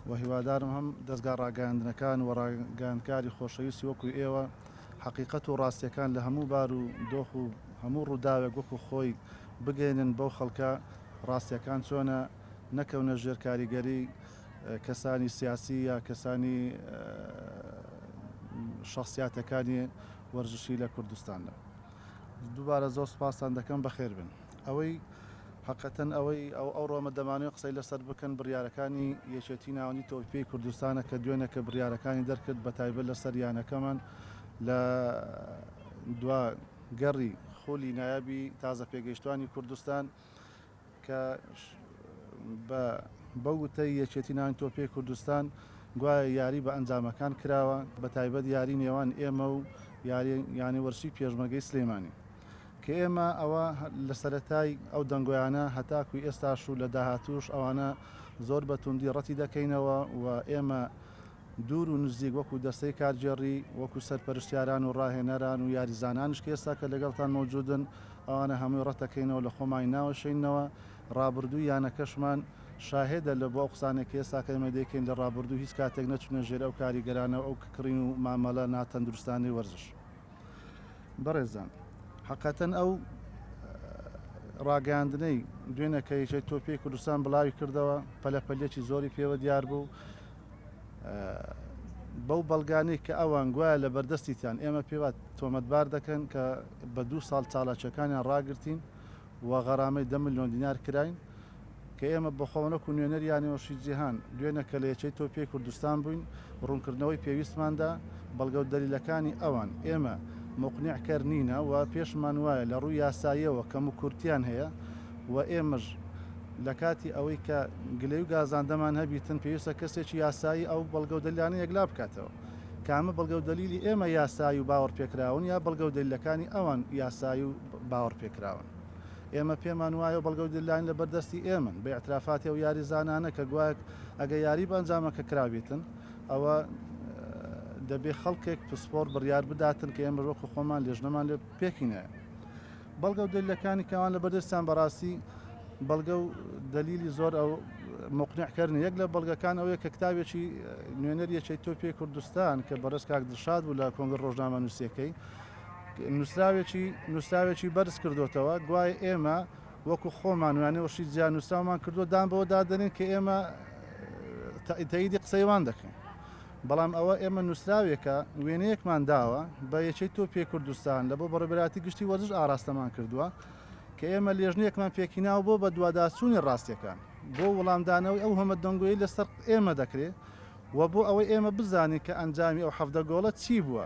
وە هیوادارم هەم دەزگا ڕاگەیاندنەکان وە ڕاگەیاندکاری خۆشەویستی وەکو ئێوە حەقیقەت و ڕاستیەکان لە هەموو بار و دۆخ و هەموو ڕووداوێک وەکو خۆی بگەینن بەو خەڵکە ڕاستیەکان چۆنە نەکەونە ژێر کاریگەری کەسانی سیاسی یا کەسانی شەخسیاتەکانی وەرزشی لە کوردستاندا دووبارە زۆر سوپاستان دەکەم بەخێربێن. ئەوەی هەقەتەن ئەوەی ئەو ئەوڕۆمە دەمانەوێت قسەی لەسەر بکەن بڕیارەکانی یەکێتی ناوەندی تۆپی پێی کوردستانە کە دوێنێ کە بڕیارەکانی دەرکرد بە تایبەت لەسەر یانەکەمان لە دوا گەڕی خولی نایابی تازە پێگەیشتوانی کوردستان کە بە بە وتەی یەکێتی ناوەندی تۆپی پێی کوردستان گوایە یاری بە ئەنجامەکان کراوە بە تایبەت یاری نێوان ئێمە و یاری یانەی وەرزشی پێشمەرگەی سلێمانی. کە ئێمە ئەوە لە سەرەتای ئەو دەنگۆیانە هەتاکوو ئێستاش و لە داهاتووش ئەوانە زۆر بە توندی ڕەتی دەکەینەوە و ئێمە دوور و نزیک وەکوو دەستەی کارگێڕی وەکوو سەرپەرشتیاران و ڕاهێنەران و یاریزانانیش کە ئێستا کە لەگەڵتان مەوجوودن ئەوانە هەمووی ڕەت دەکەینەوە لە خۆمانی ناوەشێینەوە ڕابردووی یانەکەشمان شاهێدە لە بۆ ئەو قسانەی کە ئێستا کە ئێمە دەیکەین لە ڕابردوو هیچ کاتێک نەچوونە ژێر ئەو کاریگەرانە و ئەو ککڕین و مامەڵە ناتەندروستانەی وەرزش. بەڕێزان حقەتەن ئەو ڕاگەاندنەی دوێنە کە یەکێت تۆپی کوردستان بڵاوی کردەوە پەلەپەلێکی زۆری پێوە دیار بوو بەو بەڵگانەی کە ئەوان گوایە لە بەردەستیتان ئێمە پێوە تۆمەتبار دەکەن کە بە دوو ساڵ چاڵاچەکانیان ڕاگرتین و غەرامەی دە ملیۆن دینار کراین، کە ئێمە بەخۆمان وەکو نوێنەری یانەوەشی جیهان دوێنێ کە لە یەکەی تۆپیی کوردستان بووین ڕوونکردنەوەی پێویستمان دا بەڵگە و دەلیلەکانی ئەوان ئێمە مقنع کەر نینە و پێشمان وایە لە ڕووی یاساییەوە کەم و کورتیان هەیە و ئێمەش لە کاتی ئەوەی کە گلەی و گازاندەمان هەبیتن پێویستە کەسێکی یاسایی ئەو بەڵگە و دەلیلانە یەکلا بکاتەوە کامە بەڵگە و دەلیلی ئێمە یاسایی و باوەڕپێکراون یا بەڵگە و دەلیلەکانی ئەوان یاسایی و باوەڕ پێکراون. ئێمە پێمان وایەو بەڵگەو دللاین لەبەر دەستی ئێمەن بە ئیعترافاتی ئەو یاریزانانە کە گوایەک ئەگە یاری بە ئەنجامەکە کرابیتن ئەوە دەبێ خەڵکێک پسپۆڕ بڕیار بداتن کە ئێمە وەکو خۆمان لێژنەمان لێ پێکینە. بەڵگەو دللەکانی کەوان لەبەر دەستیان بەڕاستی بەڵگە و دەلیلی زۆر ئەو مقنعکردنی یەک لە بەڵگەکان ئەوەیە کە کتابێکی نوێنەر یەکێتی تۆپی کوردستان کە بەڕێز کاک دڵشاد بوو لە کۆنگرە ڕۆژنامەنووسییەکەی نووسراوێکی نووسراوێکی بەرز کردوتەوە گوایە ئێمە وەکو خۆمان وانێ وشی جیا نووسراومان کردو دان بەوە دادنین کە ئێمە تەیدی قسەیوان دەکەین بەڵام ئەوە ئێمە نووسراوێکە وێنەیەکمان داوە بە یەکەی تۆ پێ کوردستان لە بۆ بەڕێبراتی گشتی وەرزش ئاراستەمان کردووە کە ئێمە لێژنێکمان پێکیناو بۆ بە دوواداچوونی ڕاستیەکان بۆ وڵامدانەوەی ئەو هەمە دەنگۆی لەسەر ئێمە دەکرێت و بۆ ئەوەی ئێمە بزانین کە ئەنجامی ئەو حەفدە گۆڵە چی بووە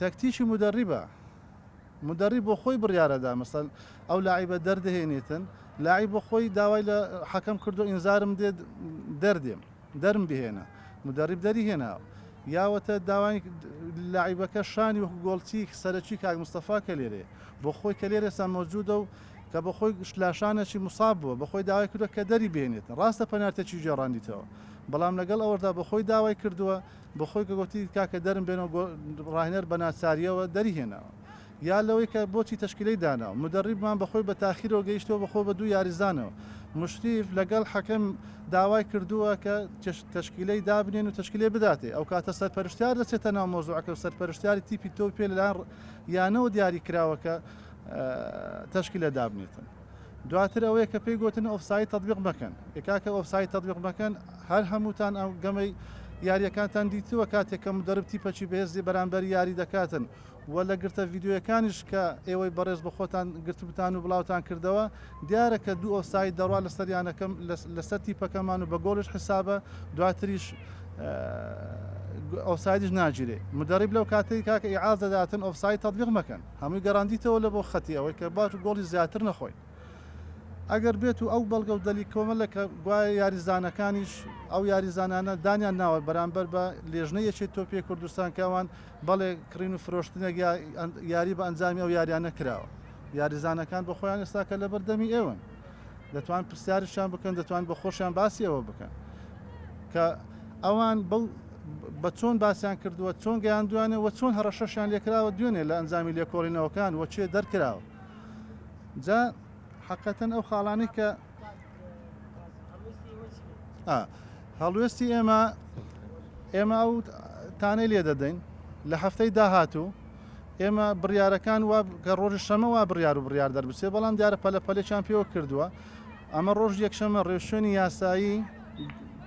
تەکتیکی مودەڕیبە مودەڕیب بۆ خۆی بڕیارەدا مەسەن ئەو لاعیبە دەردەهێنێتن لاعی بۆ خۆی داوای لە حەکەم کردو ئینزارم دێت دەردێم دەرم بهێنە مدەڕیب دەری هێناوە یاوەتە داوای لاعیبەکە شانی وەکو گۆڵچی سەرەکی کاک مستەفا کە لێرێ بۆ خۆی کە لێرە ئێستا مەوجودە و کە بە خۆی شلاشانەکی مساب بووە بە خۆی داوای کردە کە دەری بێنێت ڕاستە پەنارتەکی گێڕاندیتەوە بەڵام لەگەڵ ئەوەدا بە خۆی داوای کردووە بۆ خۆی کە گۆتی، کاکە دەرم بێنەوە گۆ ڕاهێنەر بە ناچارییەوە دەری هێناوە. یا لەوەی کە بۆچی تەشکیلەی داناوە. مودەڕیبمان بە خۆی بە تاخیرەوە گەیشتووە بە خۆ بە دوو یاریزانەوە. مشریف لە گەڵ حەکەم داوای کردووە کە تش تەشکیلەی دابنێن و تەشکیلەی بداتێ. ئەوکاتە سەرپەرشتیار دەچێتە ناو مەوزوعەکە و سەرپەرشتیاری تیپی تۆوی پێ لە لایەن ڕ یانەوە دیاری کراوە کە تەشکیلە دابنێتن. دواتر ئەوەیە کە پێی گۆتن ئۆفساید تەتبیق مەکەن ئێ کاکە ئۆفساید تەتبیق مەکەن هەر هەمووتان ئەو گەمەی یاریەکانتان دیتووە کاتێک کە مدەرب تیپەکی بەهێزی بەرامبەر یاری دەکاتن و لە گرتە ڤیدیۆیەکانیش کە ئێوەی بەڕێز بە خۆتان گرتبتان و بڵاوتان کردەوە دیارە کە دوو ئۆفساید دەڕوا لەسەر یانەکەم لەسەر تیپەکەمان و بە گۆڵش حسابە دواتریش ئۆفسایدش ناگیرێ مدەرب لەو کاتەی کاکە ئیعاز دەداتن ئۆفساید تەتبیق مەکەن هەمووی گەڕاندیتەوە لە بۆ خەتی ئەوەی کە باج و گۆڵی زیاتر نەخۆین ئەگەر بێت و ئەو بەڵگە و دەلی کۆمەلە کە گوایە یاریزانەکانیش ئەو یاریزانانە دانیان ناوە بەرامبەر بە لێژنەی یەکێتی تۆپی کوردستان کە ئەوان بەڵێ کڕین و فرۆشتنێک یا یاری بە ئەنجامی ئەو یاریانە کراوە یاریزانەکان بۆ خۆیان ئێستاکە لەبەر دەمی ئێوەن. دەتوان پرسیارشان بکەن دەتوان بە خۆشیان باسی ئەوە بکەن کە ئەوان بەو بە چۆن باسییان کردووە چۆن گەیان دوانێ وە چۆن هەڕەشەشیان لێکراوە دوێنێ لە ئەنجامی لێکۆڵینەوەکان وە چێ دەرکراوە جا حقەتەن ئەو خاڵانی کە هەڵوێستی ئێمە ئێمە ئەو تانەی لێ دەدەین لە هەفتەی داهاتوو ئێمە بڕیارەکان وا کە ڕۆژی شەمە وا بڕیار و بڕیار دەربچێ بەڵام دیارە پەلە پەلێکیان پێوە کردووە ئەمە ڕۆژ یەکشەمە ڕێوشوێنی یاسایی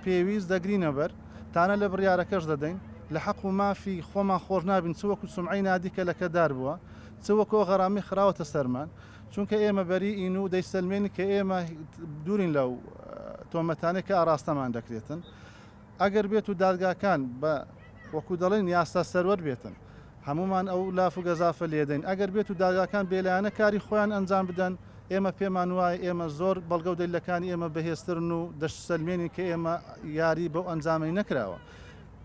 پێویست دەگرینەبەر تانە لە بڕیارەکەش دەدەین لە حەق و مافی خۆمان خۆش نابین چ وەکو سمعی نادی کە لەکەدار بووە چ وەکۆ غەرامی خراوەتە سەرمان چونکە ئێمە بەری ئین و دەیسەلمێنی کە ئێمە دوورین لەو تۆمەتانێک کە ئاراستەمان دەکرێتن ئەگەر بێت و دادگاکان بە وەکو دەڵێن یاسا سەروەر بێتن هەموومان ئەو لاف و گەزافە لێدەین، ئەگەر بێت و دادگاکان بێلایەنە کاری خۆیان ئەنجام بدەن ئێمە پێمان وایە ئێمە زۆر بەڵگە و دەلیلەکانی ئێمە بەهێزترن و دەشسەلمێنین کە ئێمە یاری بەو ئەنجامەی نەکراوە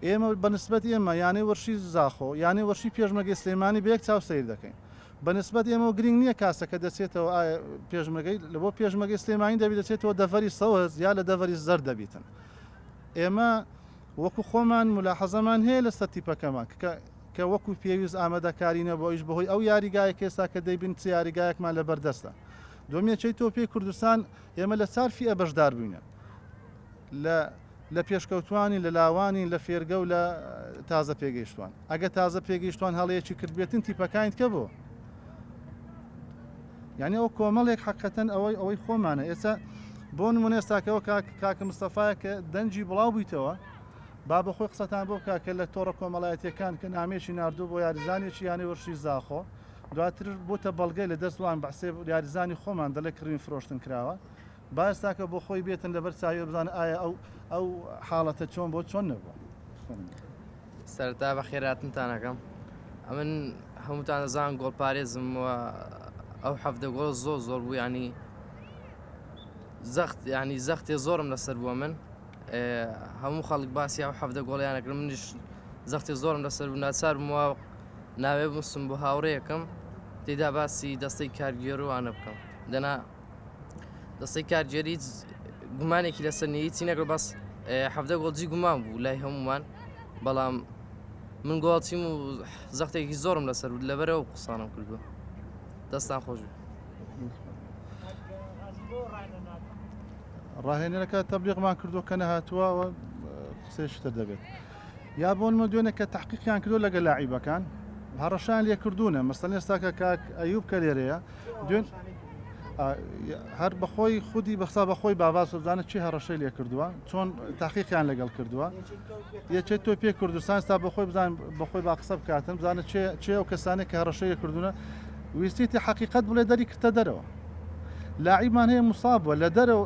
ئێمە بە نسبەت ئێمە یانەی وەرشی زاخۆ یانەی وەرشی پێشمەگەی سلێمانی بە یەک چاو سەیر دەکەین بە نسبەت ئێمە و گرنگ نییە کاسەکە دەچێتەوە ئایا پێشمەگەی لە بۆ پێشمەگەی سلێمانی دەبی دەچێتەوە دەڤەری سەوز یا لە دەڤەری زەرد دەبیتن ئێمە وەکو خۆمان مولاحەزەمان هەیە لەسەر تیپەکەمان کە کە وەکو پێویست ئامادەکاری نەبوو ئەویش بەهۆی ئەو یاریگایەک ئێستا کە دەیبین چ یاریگایەکمان لە بەردەستە دوم یەکەی تۆپی کوردستان ئێمە لە چار فیئە بەشدار بووینە لە لە پێشکەوتوانی لە لاوانی لە فێرگە و لە تازە پێگەیشتوان ئەگە تازە پێگەیشتوان هەڵەیەکی کردبێتن تیپەکانیت کە بۆ یانی ئەو کۆمەڵێک حەقەتەن ئەوەی ئەوەی خۆمانە ئێستا بۆ نمونە ئێستاکەەوە کاکە مستەفاە کە دەنجی بڵاو بوویتەوە با بە خۆی قسەتان بۆ بکە کە لە تۆڕە کۆمەڵایەتەکان کە نامێکی نردوو بۆ یاریزانێکی یانە وەرشی زاخۆ دواتر بۆتە بەڵگەی لە دەستوان بەسێ یاریزانی خۆمان دەڵێ کڕین فرۆشتن کراوە باستاکە بۆ خۆی بێتن لەبەر چاوی بزان ئایا ئەو ئەو حاڵەتە چۆن بۆ چۆن نەبووە. سەرەتا بەخێراتنتان ئەکەم ئەمن هەمووتان دەزان گۆڵ پارێزم و ئەو حەفدە گۆڵ زۆر زۆر بوو ینی زەخت ینی زەختێ زۆرم لەسەر بووە من هەموو خەڵک باسی ئەو حەفدە گۆڵیانەکرم منیش زەختی زۆرم لەسەر بوو ناچار بووە ناوێ بستم بۆ هاوڕەیەکەم تێدا باسی دەستەی کارگێروانە بکەم دەنا دەستەی کارگێر هیچ گومانێکی لەسەر نیە هیچی نەگرۆ بەس حەفدە گۆڵجی گومان بوو لای هەمومان بەڵام من گۆڵچیم و زەختێکی زۆرم لەسەر بود لەبەرەوە قوسانم کردووە دەستان خۆش بوو ڕاهێنەرەکە تەبلیغمان کردو کە نەهاتووە قسەی شتر دەبێت. یا بۆ نمونە دوێنێ کە تەحقیقیان کردوە لەگەل لاعیبەکان هەڕەشەیان لێ کردونە مەسەن ئێستا کە کاک ئەیوب کە لێرەیە دوێن هەر بەخۆی خودی بەخسا بەخۆی باواز بزانە چی هەڕەشەی لێ کردووە چۆن تاقیقیان لەگەڵ کردووە یەکێت تۆ پێ کوردستان تا بەخۆی بزان بەخۆی با قسە بکاتن بزانە چێ ئەو کەسانێک کە هەڕەشەیە کردوونە ویستێتی حقیقت بڵێ دەری کردە دەرەوە لاعیمان هەیە مساب بووە لە دەرەوە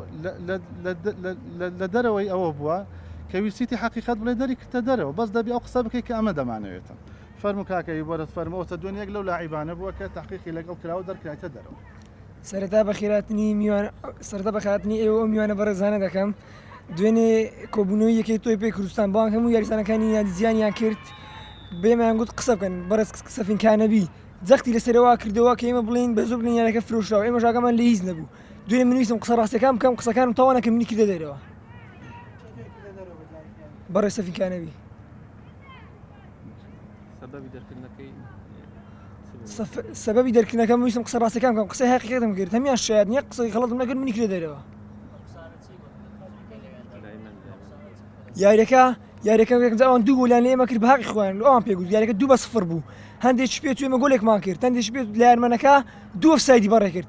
لە دەرەوەی ئەوە بووە کە ویستیتی حەقیقەت بڵێی دەری کردتە دەرەوە بەس دەبی ئەو قسە بکەی کە ئەمە دەمانەوێتن فەرموو کاکە ی بەرز فەرموو ئەوتە دوێن یەک لەو لاعیبانە بووە کە تەحقیقی لەگەڵ کراوە دەرکرایتە دەرەوە. سەرەتا بەخیرهاتنی میوان سەرەتا بەخیرهاتنی ئێوە و ئەو میوانە بەڕێزانە دەکەم دوێنێ کۆبوونەوەی یەکەی تۆی پێی کوردستان بەڵام هەموو یاریزانەکانی یادی زیانیان کرد بێمەیان گوت قسە بکەن بەڕێز سەفینکانەبی جەختی لەسەرەوە کردەوە کە ئێمە بڵێن بە زۆر بڵێن یانەکە فرۆشراوە ئێمەش ئاگامان لە هیچ نەبوو دوێنێ من ویستم قسە ڕاستەکان بکەم قسەکانم تەوا نەکەم منی کردە دەرەوە بەڕێ سەفیکانەوی سەبەبی دەرکردنەکەم ویستم قسە ڕاستەکان بکەم قسە هەقیقەتم کرد هەمیان شاید نیە قسەی خەڵەتم نەکرد منی کرێ دەرەوە یاریەکە یاریەکە ئەوان دوو گۆلیان لێمە کرد باقی خوۆیان ئەوان پێ گوت یاریەکە دوو بە سفر بوو هەندێک پێ توێمە گۆلێکمان کرد هەندێک پێ لارمەنەکە دوو سایدی بەڕێ کرد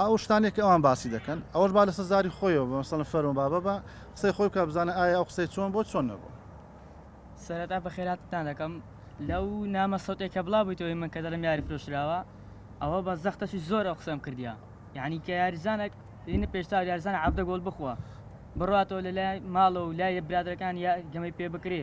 ئەو شتانەی کە ئەوان باسی دەکەن ئەوەش با لەسەر زاری خۆیەوە بێ مەسەلەن فەرموو بابە با قسەی خۆی بکا بزانە ئایا ئەو قسەی چۆن بۆ چۆن نەبوو. سەرەتا بەخێراتتان دەکەم لەو نامە سەوتێ کە بڵاو بویتەوەی من کە دەڵێم یاری فرۆشراوە ئەوە بە زەختەشی زۆر ئەو قسەم کردیە یعنی کە یاریزانەک لینە پێشتاو یاریزانە عەبدە گۆل بخوا بڕاتەوە لە لای ماڵەوە و لای برادەرەکان یا گەمەی پێ بکرێ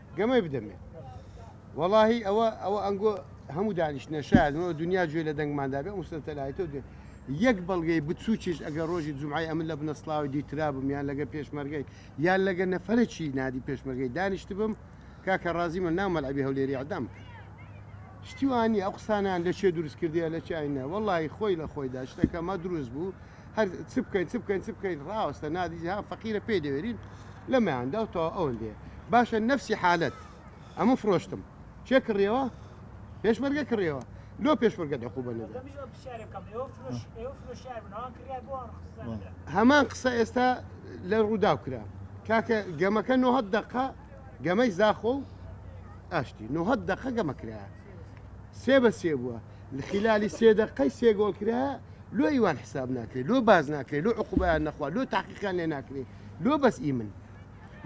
گەمەی بدەمێ وەڵاهی ئەوە ئەوە ئەنگۆ هەموو دانیشتە شایەنەوە دنیا گوێ لە دەنگماندا بێ مسلتەلایەتەوە دێ یەک بەڵگەی بچووکیش ئەگەر ڕۆژی جمعی ئەمن لە بنەسلاوی دیترا بم یان لەگە پێشمەرگەی یان لەگە نەفرەکی نادی پێشمەرگەی دانیشت بم کاکە ڕازی من ناو مەلعبی هەولێری عدام کرد شتیوانی ئەو قسانیان لە چێ دروست کردیە لە چینە وەڵی خۆی لە خۆیدا شتەکەمە دروست بوو هەر چ بکەین چ بکەین چ بکەین ڕاوەستە نادیجی ها فەقیرە پێ دەوێرین لە مەیاندا و تەوا ئەوەندێ باشە نەفسی حالت ئەمە فرۆشتم چێ کڕیەوە پێشمەرگە کڕیەوە لۆ پێشمەرگە دەخو بە نەدا هەمان قسە ئێستا لە ڕووداو کرا کاکە گەمەکە نۆهە دقە گەمەی زاخۆ و ئاشتی نۆهە دقە گەمە کرایە سێ بە سێ بووە لە خیلالی سێ دەقەی سێ گۆڵ کرا لۆ ئیوان حساب ناکرێت لۆ باز ناکرێت لۆ عقوبیان نەخوا لۆ تاقیقیان لێ ناکرێت لۆ بەس ئی من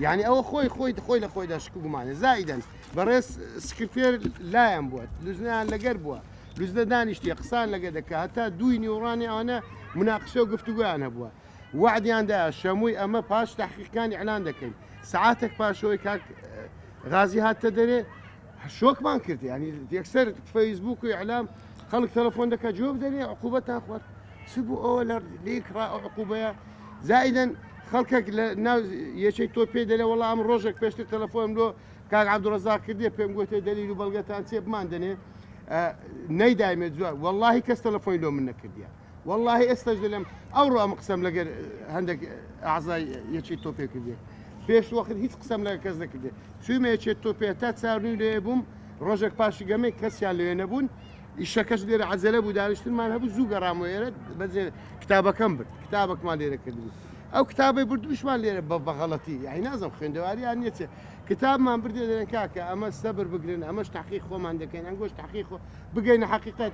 یعنی ئەوە خۆی خۆی خۆی لە خۆیدا شک گومانە زایدەن بەڕێز سکرتێر لایەن بووە لوزنیان لەگەر بووە لوزدە دانیشتی قسان لەگە دەکە هەتا دووی نیوڕانی ئەوانە مناقشە و گفتوگویان هەبووە وعدیاندا شەمووی ئەمە پاش تحقیقەکانی ئەلان دەکەین سعاتێک پاشەوەی کاک غازی هاتە دەرێ شۆکمان کرد یعنی یەکسەر فەیسبووک و ئیعلام خەڵک تەلەفۆن دەکات جواب دەرێ عقوبەتان خوارد چ بوو ئەوە لە لێک ڕا ئەو عقوبەیە زائیدەن خەڵکێک لە ناو یەکەی تۆ پێ دەلێ وەڵام ئەم ڕۆژێک پێشتر تەلەفۆنم لۆ کاک عەبدوڵرەزاق کردێ پێم گوتێ دەلیل و بەڵگەتان چێ بمان دەنێ نەیدایمێ جواب وەڵڵاهی کەس تەلەفۆنی لۆ من نەکردیە وەڵاهی ئێستاش دەلێم ئەوڕۆ ئەم قسەم لەگەر هەندێک ئازای یەکی تۆپێ کردێ پێش وەخت هیچ قسەم لە کەس دەکردێ چویمە یەکێت تۆپێ تا چاونی لێ بووم ڕۆژێک پاشی گەمەی کەسیان لێ نەبوون ئیشەکەش لێرە عجلە بوو دانیشتمان هەبوو زوو گەڕام و ئێرە بەجێ کتابەکەم برد کتابەکمان لێرە کردبوو ئەو کتابی بردوشمان لێرە بە بەغەڵەتی یای نازم خوێندەواریان نیەچێ کتابمان بردێ دەێن کاکە ئەمە سەبر بگرن ئەمەش تاقی خۆمان دەکەین ئەنگۆش تاقی خۆ بگەینە حقیقت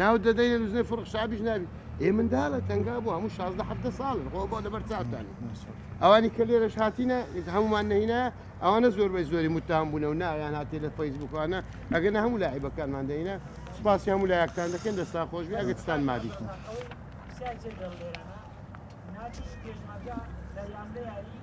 ناوت دەدەین لە نوزنەی فرخ شابیش نابی ئێ مندالە تەنگا بوو هەموو شازدە حەفتە ساڵن خۆ بۆ لەبەر چاوتانی ئەوانی کە لێرەش هاتینە هەمومان نهینە ئەوانە زۆربەی زۆری متان بوون و نایان هاتی لە فەیسبوکانە ئەگەر نە هەموو لای بەکانمان دەینە سپاسی هەموو لایەکتان دەکەن دەستا خۆش بێ ئەگەستان مادی ناتی پێشمەرگە لە یانەیاری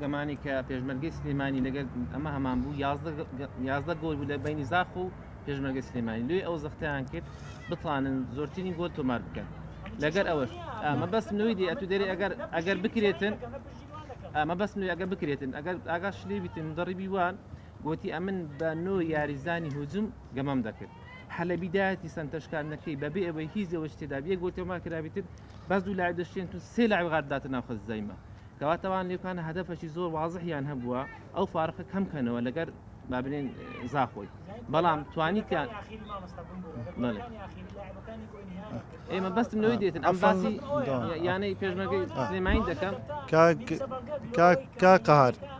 گەمانی کە پێشمەرگەی سلێمانی لەگەل ئەمە هەمان بوو یازدە گۆل بوو لە بینی زاخ و پێشمەرگە سلێمانی لێ ئەو زەختیان کرد بتوانن زۆرترین گۆل تۆمار بکەن لەگەر ئەوەش ئەمە بەس نوی دی ئەتو دەری ئەگەر ئەگەر بکرێتن ئەمە بەس نوی ئەگە بکرێتن ئەگەر ئاگا شلی بیتن مدەڕیبی وان گوتی ئەمن بە نۆ یاریزانی هجوم گەمەم دەکرد حەلە بیدایەتی سنتەشکاندنەکەی بەبێ ئەوەی هیچ ئەوە شتێدا بێ گۆتەما کرابێتن بەس دوو لاعب دەشتێن تو سێ لاعب غارداتە ناوخەزایمە کەواتە ئەوان لێکانە هەدەفەکی زۆر وازحیان هەبووە ئەو فارقە کەم کەنەوە لەگەر با بلێن زاخۆی بەڵام توانیتیان ئێمە بەستم لەوەی دێتن ئەم باسی یانەی پێشمەگەی سلێمانی دەکەم کاکەهار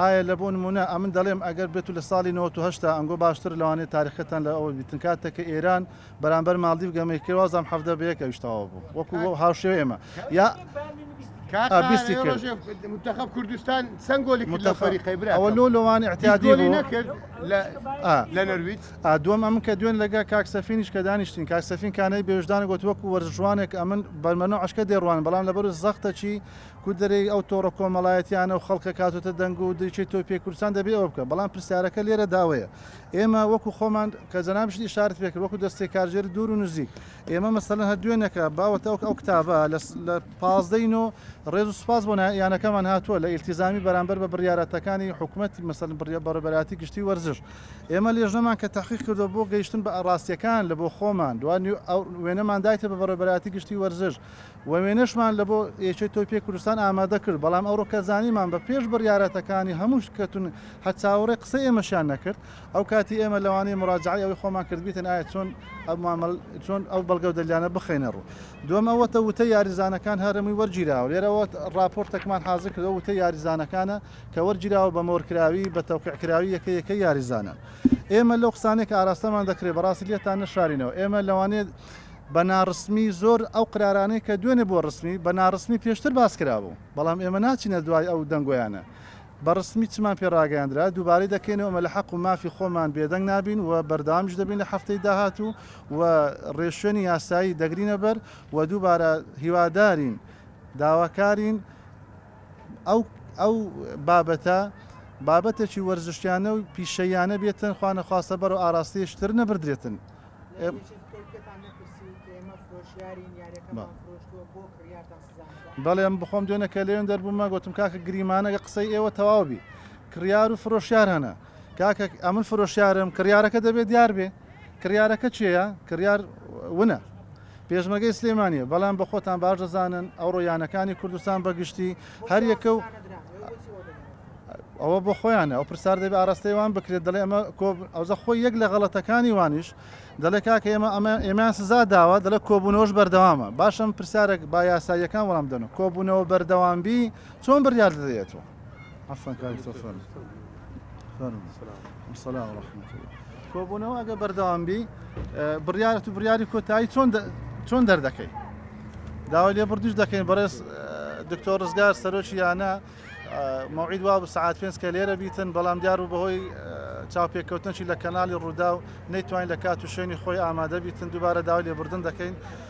ئایە لە بۆ نمونە ئەمن دەڵێم ئەگەر بێتو لە ساڵی نەوەت و هەشتا ئەنگۆ باشتر لەوانەیە تاریخەتان لە ئەوە بیتن کاتەک کە ئێران بەرامبەر ماڵدیڤ گەمەی کرد وازام حەڤدە بە یەک ئەویش تەواو بوو وەکو وە هاوشێوەی ئێمە یا کاکە بیستی ئەوێ کرد. ڕۆژێ منتەخەب کوردستان چەند گۆلی کرد لەو متخ فەریقەی برا ئەوە لۆ لۆوان هیچ ئیعتیادی گۆلی بوو نەکرد لە ئا لە نەرویج ئا دووەم ئەمن کە دوێن لەگە کاک سەفینیش کە دانیشتین کاک سەفین کانەی بێوژدانە گۆت وەکو وەرزشوانێک ئەمن بەرمەنۆعەشکە دێڕوانم بەڵام لەبەرو زەختەکی گوندەرێی ئەو تۆڕە کۆمەڵایەتیانە و خەڵکە کاتۆتە دەنگ و دریچەی تۆی پێ کوردستان دەبێ ئەوە بکە بەڵام پرسیارەکە لێرەدا ئەوەیە ئێمە وەکو خۆمان کە جەنابیشت ئیشارەت پێ کرد وەکو دەستەی کارگێری دوور و نزیک ئێمە مەسەلەن هەر دوێنێکە باوەتە ئەو ئەو کتابە لە لە پازدەی نۆ ڕێز و سوپاس بۆ نا- یانەکەمان هاتووە لە ئیلتیزامی بەرامبەر بە بڕیارەتەکانی حکومەت مەسەلەن بڕیا بەڕێوبەرایەتی گشتی وەرزش ئێمە لێژنەمان کە تەحقیق کردووە بۆ گەیشتن بە ڕاستییەکان لە بۆ خۆمان دوای نیو ئەو وێنەمان دایتە بە بەڕێوبەرایەتی گشتی وەرزش وێنەشمان لە بۆ یەکێ تۆی پێ کوردستان ئامادە کرد بەڵام ئەوڕۆ کە زانیمان بە پێش بڕیارەتەکانی هەمووش کەتون هەر چاوەڕێ قسەی ئێمەشیان نەکرد ئەو کاتی ئێمە لەوانەیە مراجعەی ئەوەی خۆمان کرد بیتن ئایا چۆن ئەو مامەڵ چۆن ئەو بەڵگە و دەلیلانە بخەینە ڕوو دووەم ئەوەتە وتەی یاریزانەکان هەرەمووی وەرگیراوە لێرەوە ڕاپۆرتێکمان حازر کردەوە وتەی یاریزانەکانە کە وەرگیراوە بە مۆرکراوی بە تەوقیع کراوی یەکە یەکەی یاریزانان ئێمە لەو قسانێک ئاراستەمان دەکرێت بەڕاستی لێتان نەشارینەوە ئێمە لەوانەیە بە ناڕسمی زۆر ئەو قرارانەی کە دوێنێ بۆ ڕسمی بە ناڕسمی پێشتر باس کرابوو بەڵام ئێمە ناچینە دوای ئەو دەنگۆیانە بە ڕسمی چمان پێ ڕاگەیاندرا دووبارەی دەکەینەوە ئەمە لە حەق و مافی خۆمان بێدەنگ نابین و بەردەوامیش دەبین لە هەفتەی داهاتوو و ڕێشوێنی یاسایی دەگرینە بەر و دووبارە هیوادارین داواکارین ئەو ئەو بابەتە بابەتێکی وەرزشیانە و پیشەییانە بێتن خوا نەخواستە بەرەو ئاراستەی شتر نەبردرێتن بەڵێم بخۆم دوێنە کە لێن دەربوومە گوتم کاکە گریمانە لە قسەی ئێوە تەواوبی کڕیار و فرۆشیار هەنە کاکە ئەمن فرۆشیارم کڕارەکە دەبێت دیار بێ کڕارەکە چێە کڕار ونە پێشمەرگەی سلێمانیە بەڵام بە خۆتان باش دەزانن ئەوڕۆ یانەکانی کوردستان بەگشتی هەر یەکە و ئەوە بۆ خۆیانە ئەو پرسار دەبێت ئاراستەی وان بکرێت دەڵێ ئەمە ئەوزە خۆی یەک لە غەڵەتەکانی وانیش دەڵێ کاکە ئێمە ئەمە ئێمان سزا داوە دەڵە کۆبوونەوەش بەردەوامە باشم پرسیارێک با یاساییەکان وەڵام دەن و کۆبوونەوە بەردەوامبی چۆن بڕیار دەدەێتەوە عفوا کاک مستەفا فەرموو فەرموو السلام ورحمة الله کۆبوونەوە ئەگە بەردەوام بی بڕیارەت و بڕیاری کۆتایی چۆن چۆن دەردەکەی داوای لێ بردیش دەکەین بەڕێز دکتۆر ڕزگار سەرۆکی یانە مەوعید وا سعات پێنج کە لێرە بیتن بەڵام دیار و بەهۆی چاوپێککەوتنشی لە کەناڵی ڕوودا و نەیتوانین لە کات و شوێنی خۆی ئامادە بیتن دووبارە داوای لێبردن دەکەین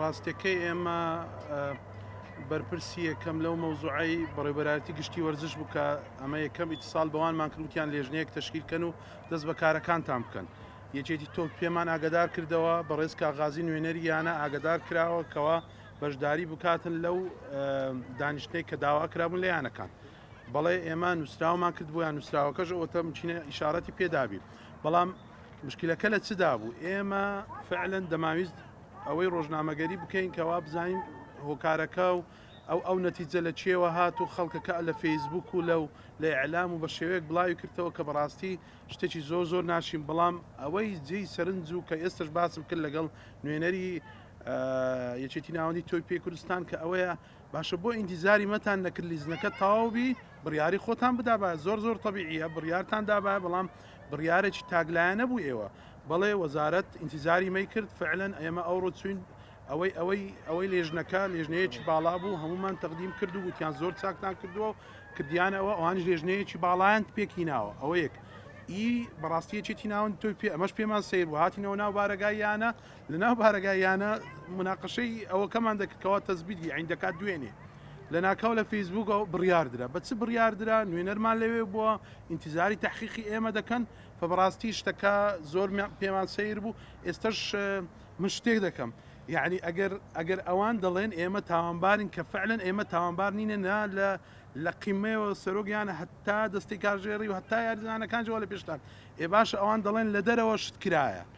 ڕاستەکەی ئێمە بەرپرسی یەکەم لەو مەوزوعی بەڕێبەرایەتی گشتی وەرزش بکە ئەمە یەکەم ئیتسال بەوانمان کردوتیان لێژنەیەک تشکیلکەن و دەست بە کارەکانتان بکەن یەکێتی تۆ پێمان ئاگدار کردەوە بەڕێز کاغازی نوێنەریانە ئاگدار کراوە کەەوە بەشداری بکاتن لەو دانیشتەی کە داوا کرابوون لەیانەکان بەڵێ ئێمە نووسراومان کرد بۆیان نووسراوەکەش ئەوتەم چینە ئشارەتی پێدابی بەڵام مشکلەکە لە چدا بوو ئێمە فعلەن دەماویست ئەوەی ڕۆژنامەگەری بکەین کەوا بزانین هۆکارەکە و ئەو ئەو نەتیجە لە چێوە هات و خەڵکەکە لە فەیسبوک و لەو لە ئەلام و بە شێوەیەک بڵاوی کردەوە کە بەڕاستی شتێکی زۆر زۆر ناشین بەڵام ئەوەی جێی سەرنج و کە ئێستش باسم کرد لەگەڵ نوێنەری یەکێتی ناوەندی تۆی پێ کوردستان کە ئەوەیە باشە بۆ ئینتیزاری مەتان نەکرد لیزنەکە تەواو بی بڕیاری خۆتان بدابە زۆر زۆر تەبیعە بڕیارتان دابە بەڵام بڕیارێکی تاگلایە نەبوو ئێوە بەڵێ وەزارەت ئینتیزاری مەی کرد فعلەن ئێمە ئەوڕۆ چوین ئەوەی ئەوەی ئەوەی لێژنەکە لێژنەیەکی باڵا بوو هەمومان تەقدیم کرد و وتیان زۆر چاکتان کردووە و کردیانەوە ئەوانش لێژنەیەکی باڵایان پێکی ناوە ئەوەیەک ئی بەڕاستیەکێتی ناون تۆی پێ ئەمەش پێمان سیر و هاتینەوە ناو بارەگاییانە لەناو بارەگا یانە مناقەشەی ئەوەکەمان دەکرد کەوا تەزبیتی عین دەکات دوێنێ لەناکاو لە فەیسبووکەوە بڕیاردرا بە چ بڕیاردرا نوێنەرمان لەوێ بووە ئینتیزاری تحقیقی ئێمە دەکەن فە بەڕاستی شتەکە زۆر پێمان سیر بوو ئێستش من شتێک دەکەم یعنی ئەگەر ئەگەر ئەوان دەڵێن ئێمە تاوانبارین کە فعلەن ئێمە تاوانبار نینە نا لە لە قیمەوە سەرۆگیان هەتا دەستی کارژێری و هەتا یاریزانەکان جووە لە پێشتان ئێ باش ئەوان دەڵێن لە دەرەوە شت کرایە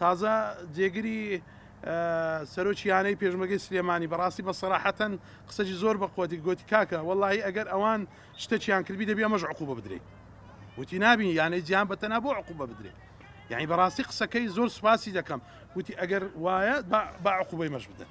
تازە جێگری سەرۆکی یانەی پێشمەگەی سلێمانی بەڕاستی بە سەراحەتەن قسەجی زۆر بە قوتی گوتی کاکە وەڵی ئەگەر ئەوان شتەکیان کردبی دەبی ئەمەش عقوبە بدرێت وتی نابی یانەی جیان بەتەنا بۆ عقوبە بدرێت یعنی بەڕاستی قسەکەی زۆر سوپاسی دەکەم وتی ئەگەر وایە بە عقوبەی مەش بدەن